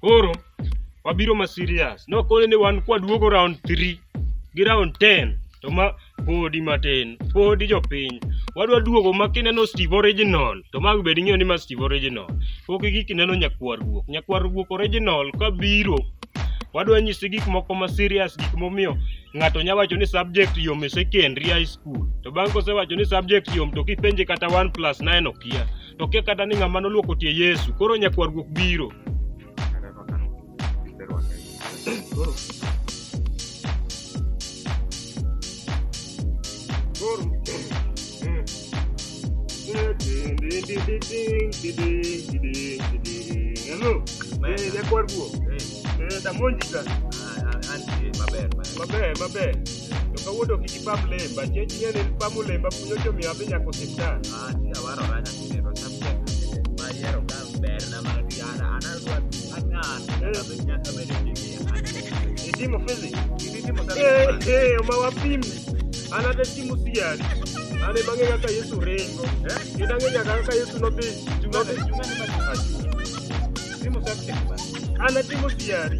Koro wabiro ma serious. Nokoni ni wan kwaduogo round 3 gi round 10 to ma podi matin, podi jopiny. Wadwa duogo ma kineno Steve Original to ma bed ing'eyo ni ma Steve Original. Pok igik ineno nyakwar guok. Nyakwar guok original ka biro wadwa nyisi gik moko ma serious gik momiyo ng'ato nya wacho ni subject yom e secondary high school to bang' kosewacho ni subject yom to kipenje kata 1 plus 9 okia. to kia kata ni ng'ama noluoko tie Yesu. Koro nyakwar guok biro. Koro Hello. Eh, nyakwar guok. Eh, damonji ka. Maber, maber. To kawuono kik ipam lemba, chieng' chieng' ipamo lemba punyo jomiyo adhi nyaka osiptal. Itimo fizi. Itimo sana. Eh, eh, ma wapim. Ana de timu siari. Ana bange kaka Yesu rengo. Eh? Idange nyaka kaka Yesu no bi. Chunga chunga ni ma. Timo sana. Ana timu siari.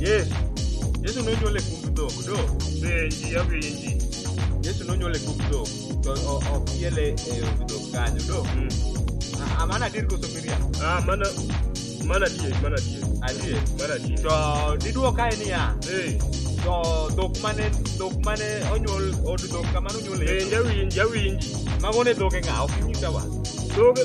Yesu. Yesu nonyuol e kumb dhok, do. Penji apenji. Yesu nonyuol e kumb dhok, to o- ok yele e od dhok kanyo, do. Mm. A- a mano adier koso miriambo? Ah, mana mana die, mana die. Adier. Mana die. To diduok kae niya, Eh, to dhok mane dhok mane onyuol od dhok kamano onyuol e Yesu. penja winji, awinji. Mago ne dhoge ng'a? Ok inyisawa. Doge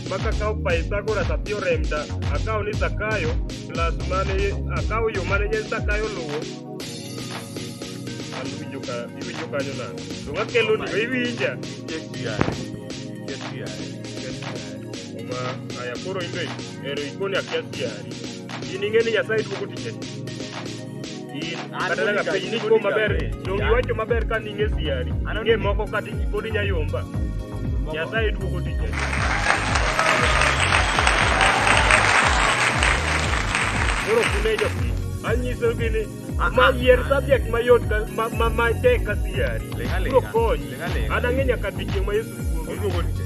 maka kawo paisa kora sapio remda akawo ni sakayo plus mane akawo yo mane nyen sakayo luwo an iwinjo ka iwinjo kanyo na to ngakelo ni iwinja ma aya koro imbe ero ikoni akia siari In ing'e ni Nyasaye duogo tije. In kata kaka piny ni ko maber, donge iwacho maber ka ning'e siari. Ing'e moko kata pod inya yomba. Nyasaye duogo tije. Koro kune jopiny. Anyisogi ni ma yier subject mayot ka- ma- ma- matek ka siari. Lega, lega. Biro konyi. Lega, lega. An ang'e nyaka odiechieng' ma Yesu duogo. Oduogo tije.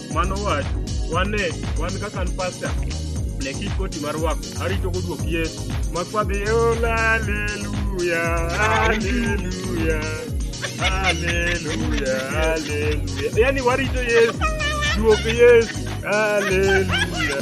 Mano wach, wane, wan kaka an pasta, ne kik koti mar wako, arito godwok Yesu. Makwadhi, ola, aleluya, aleluya, aleluya, aleluya. Yani warito Yesu, duok Yesu, aleluya.